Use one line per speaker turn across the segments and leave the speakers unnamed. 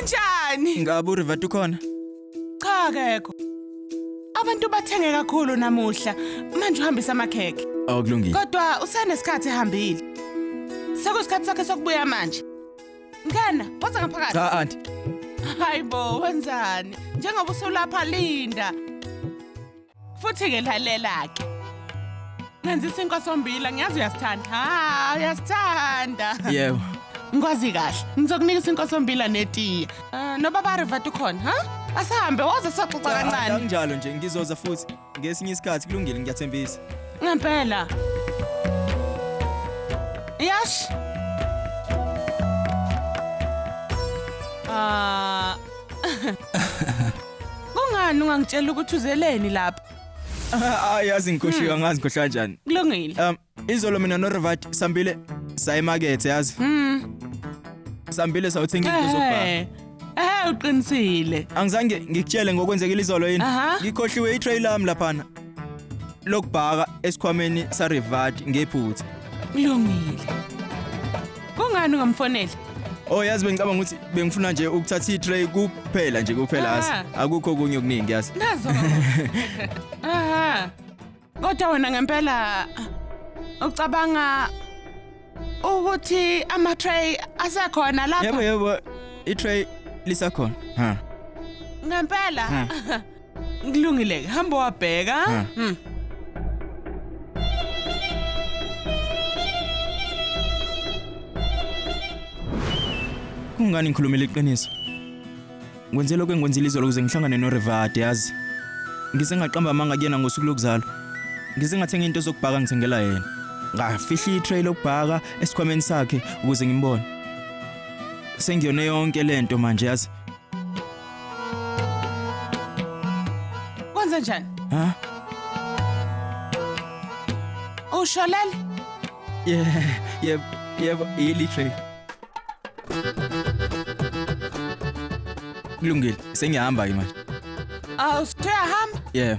Unjani? Ngabe uRivat ukhona?
Cha
akekho. Abantu bathenge kakhulu namuhla. Manje uhambisa amakhekhe. Awukulungile. Kodwa
usenesikhathi
ehambile. Sekusikhathi sakhe sokubuya manje. Ngena, woza ngaphakathi. Cha aunty.
Hayibo,
wenzani? Njengoba usulapha Linda. Futhi-ke lalela-ke. Nenza isinkwa sombila, ngiyazi uyasithanda. Ha, uyasithanda. Yebo.
Ngikwazi kahle.
Ngizokunika isinkwa sombila netiye. Ah, Nobaba Rivat ukhona, ha? Asihambe woze soxoxa Cha, kancane. Anginjalo nje ngizoza
futhi ngesinye isikhathi kulungile ngiyathembisa. Ngempela.
Yash. Ah. Kungani ungangitshela ukuthi uzeleni lapha? Hayi yazi
ngikhohliwe hmm. angazi ngikhohlwa kanjani. Kulungile. Um
izolo mina no
Revat sambile sayimakethe yazi. Mhm. Sambile sawuthenga into zobhaka. Eh, eh uqinisile.
Angizange
ngikutshele ngokwenzekile izolo yini? Ngikhohliwe i-trail lami laphana. Lokubhaka esikhwameni sa Revat ngephutha. Kulungile.
Kungani ungamfoneli? Oh yazi bengicabanga
ukuthi bengifuna nje ukuthatha i-tray kuphela nje kuphela yazi. Ah. Akukho okunye okuningi yazi.
Nazo. Aha. Kodwa wena ngempela ucabanga ukuthi ama tray asekhona Yebo lapha yebo
i-tray lisakhona. Ha. ngempela.
Ha. Kulungile-ke, hamba wabheka. Ha. Hmm.
Kungani ngikhulumela iqiniso? Ngwenze lokho engikwenzile izolo ukuze ngihlangane noRevade yazi. Ngize ngaqamba amanga kuyena ngosuku lokuzalwa. Ngize ngathenga into zokubhaka ngithengela yena. Ngafihla i-tray lokubhaka esikhwameni sakhe ukuze ngimbone. Sengiyone yonke lento manje yazi.
Kwenze njani? Ha? Usholele? Yeah,
yeah, yeah, yeli tray. Kulungile, sengiyahamba ke manje. Awusithe
ahamba? Yeah.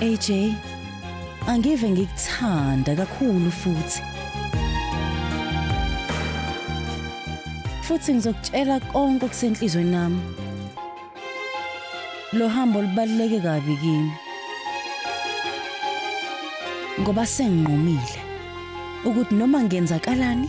AJ angive ngikuthanda kakhulu futhi futhi ngizokutshela konke okusenhlizweni nami lo hambo lubaluleke kabi kimi ngoba senginqumile ukuthi noma ngenzakalani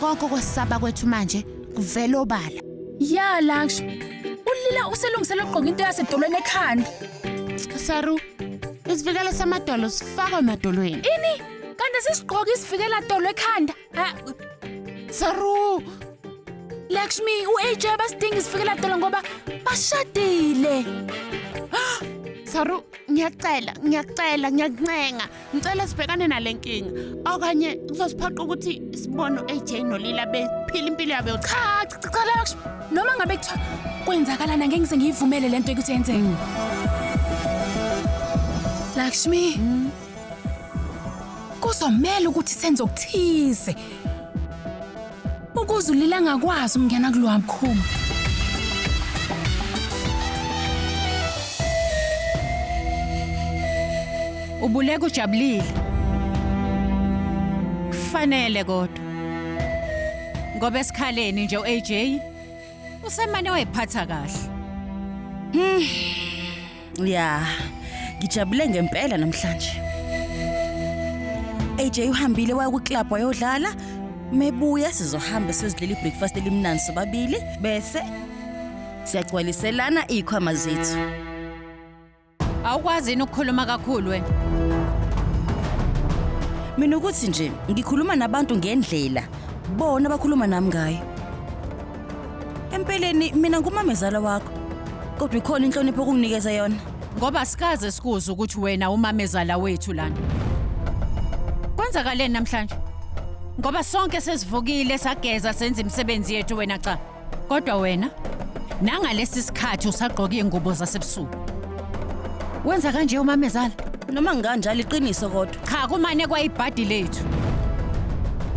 Konke kwesaba kwethu manje kuvela obala. Ya Laksh,
ulila uselungisela ukugqoka into yasedolweni ekhanda. Saru,
isivikelo samadolo sifakwa emadolweni. Ini? Kanti
sisigqoka isivikela dolo ekhanda? Ha, Saru,
Lakshmi,
u-AJ basidinga isifikela dolo ngoba bashadile.
Saru, ngiyacela, ngiyacela, ngiyakuncenga. Ngicela sibhekane nale nkinga okanye kuzosiphoqa ukuthi sibone u-AJ noLila bephila impilo yabo yokuthi Cha, cha, cha la
kusho. Noma ngabe kuthiwa kwenzakalana ngeke ngize ngiyivumele lento ukuthi yenzeke. Lakshmi. Kuzomela ukuthi senze okuthize. Ukuze ulila ngakwazi ukungena kulowa mkhuma.
Ubuleka ujabulile. Kufanele kodwa. Ngoba esikhaleni nje uAJ usemane wayiphatha kahle.
ya ngijabule ngempela namhlanje AJ uhambile waya kuclub wayodlala mebuya sizohamba sizidlela ibreakfast elimnandi sobabili bese siyagcwaliselana ikhwama zethu Awukwazi
yini ukukhuluma kakhulu wena?
mina ukuthi nje ngikhuluma nabantu ngendlela bona bakhuluma nami ngayo Empeleni mina ngumamezala wakho. Kodwa ikhona inhlonipho okunginikeza yona. Ngoba sikaze
sikuze ukuthi wena umamezala wethu lana. Kwenzakaleni namhlanje? Ngoba sonke sesivukile sageza senza imisebenzi yethu wena cha. Kodwa wena nangalesi sikhathi usagqoka ingubo zasebusuku. Wenza kanje umamezala? Noma ngikanjalo
iqiniso kodwa. Cha kumane kwayibhadi
lethu.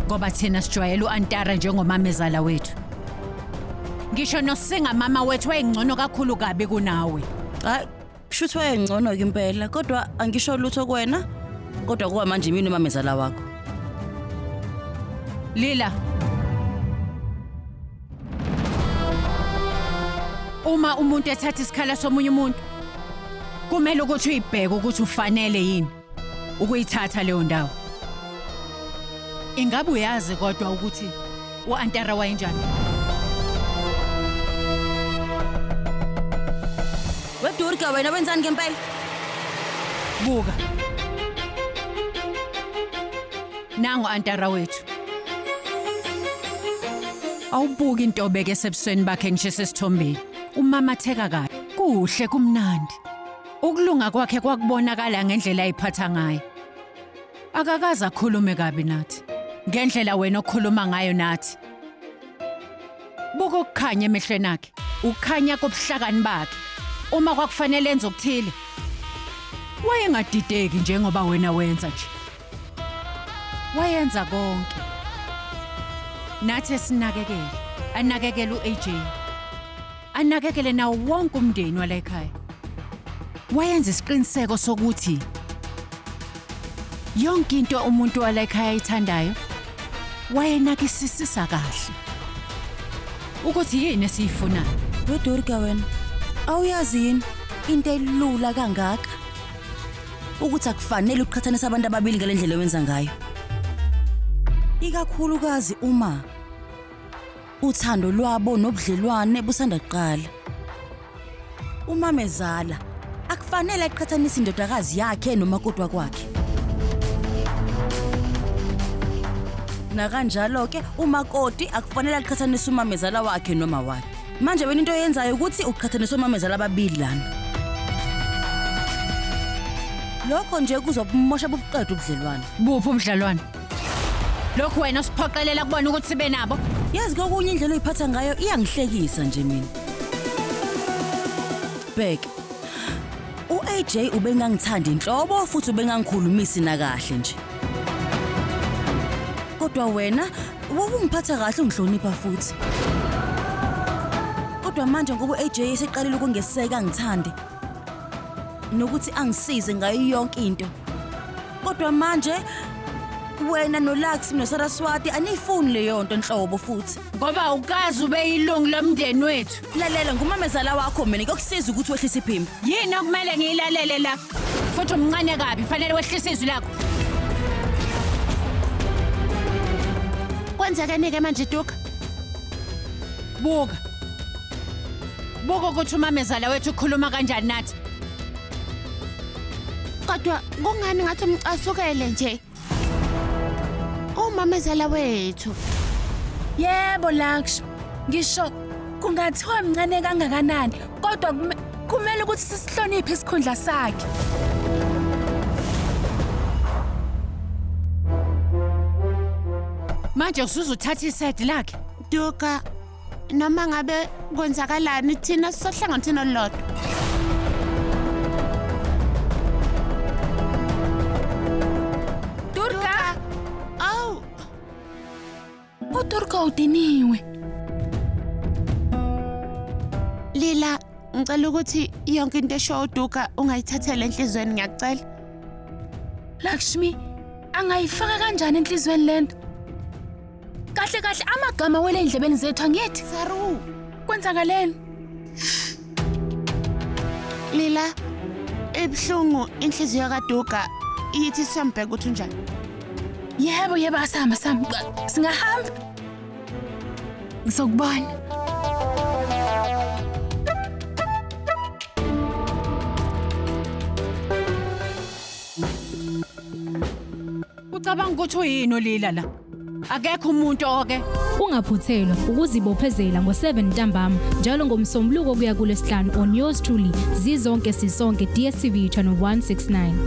Ngoba thina sijwayele uAntara njengomamezala wethu. Ngisho nosinga mama wethu wayengcono kakhulu kabi kunawe. Hayi,
kushuthi wayengcono ke impela kodwa angisho lutho kuwena kodwa kuba manje mina umamezala wakho.
Lila. Uma umuntu ethatha isikhala somunye umuntu kumele ukuthi uyibheke ukuthi ufanele yini. ukuyithatha leyo ndawo. Ingabe uyazi kodwa ukuthi uAntara wayenjani?
Wedurga wena wenzani ngempela?
Buka. Nangu Antara wethu. Awubuki into obeke sebusweni bakhe ngisho sesithombeni. Umamatheka kahle. Kuhle kumnandi. Ukulunga kwakhe kwakubonakala ngendlela ayiphatha ngayo. Akakaze akhulume kabi nathi. Ngendlela wena okhuluma ngayo nathi. Buka ukukhanya emehlweni akhe, ukukhanya kobuhlakani bakhe. Uma kwakufanele enze okuthile, wayengadideki njengoba wena wenza nje. Wayenza konke. Nathi esinakekele, anakekele u-AJ. anakekele nawo wonke umndeni wala ekhaya. Wayenza isiqiniseko sokuthi yonke into umuntu wala ekhaya ayithandayo wayenakisisisa kahle ukuthi yini esiyifunayo. Dodorika wena,
awuyazi yini into elula kangaka ukuthi akufanele uqhathanise abantu ababili ngale ndlela owenza ngayo, ikakhulukazi uma Uthando lwabo nobudlelwane busanda kuqala. Umamezala akufanele aqhathanise indodakazi yakhe nomakoti wakwakhe. Nakanjalo ke umakoti akufanele aqhathanise umamezala wakhe noma wakhe. Manje wena into oyenzayo ukuthi uqhathanise omamezala ababili lana. Lokho nje kuzobumosha bubuqeda ubudlelwane. Buphi ubudlalwane?
lokhu wena osiphoqelela kubona ukuthi sibe nabo yazi kokunye indlela
oyiphatha ngayo iyangihlekisa nje mina bhek u-aj ubengangithandi nhlobo futhi ubengangikhulumisi nakahle nje kodwa wena wawungiphatha kahle ungihlonipha futhi kodwa manje ngoba u-aj eseqalile ukungeseka ngithande nokuthi angisize ngayo yonke into kodwa manje wena nolux nosaraswati aniyifuni leyo nto nhlobo futhi ngoba ukazi
ube yilungu lomndeni wethu lalela ngumamezala
wakho mina kuyokusiza ukuthi wehlise iphimbo yini okumele
ngiyilalele la futhi umncane kabi fanele wehlise izwi lakho
kwenzekeni-ke manje duka
buka Buka ukuthi umamezala wethu ukhuluma kanjani nathi.
Kodwa kungani ngathi umcasukele nje? Umamezala wethu.
Yebo Lakshmi, ngisho kungathiwa mncane kangakanani kodwa kume- kumele ukuthi sisihloniphe isikhundla sakhe.
Manje usuzothatha iside lakhe. Duka,
noma ngabe kwenzakalani thina sisohlangothini olulodwa
Durga! awu UDurga udiniwe.
lila ngicela ukuthi yonke into esho uduka ungayithathela enhlizweni ngiyakucela
Lakshmi, angayifaka kanjani enhlizweni lento? kahle kahle amagama wele endlebeni zethu angithi saru
kwenzakaleni
lila ebuhlungu inhliziyo kaduga iyithi siyambheka ukuthi unjani yebo
yebo asihamba sihamba singahamba ngizokubona
Ucabanga ukuthi uyini olila la? Akekho umuntu oke. Ungaphuthelwa
ukuzibophezela ngo-7 ntambama njalo ngomsombuluko kuya kulesihlanu on yours truly zizonke sisonke DSTV channel 169.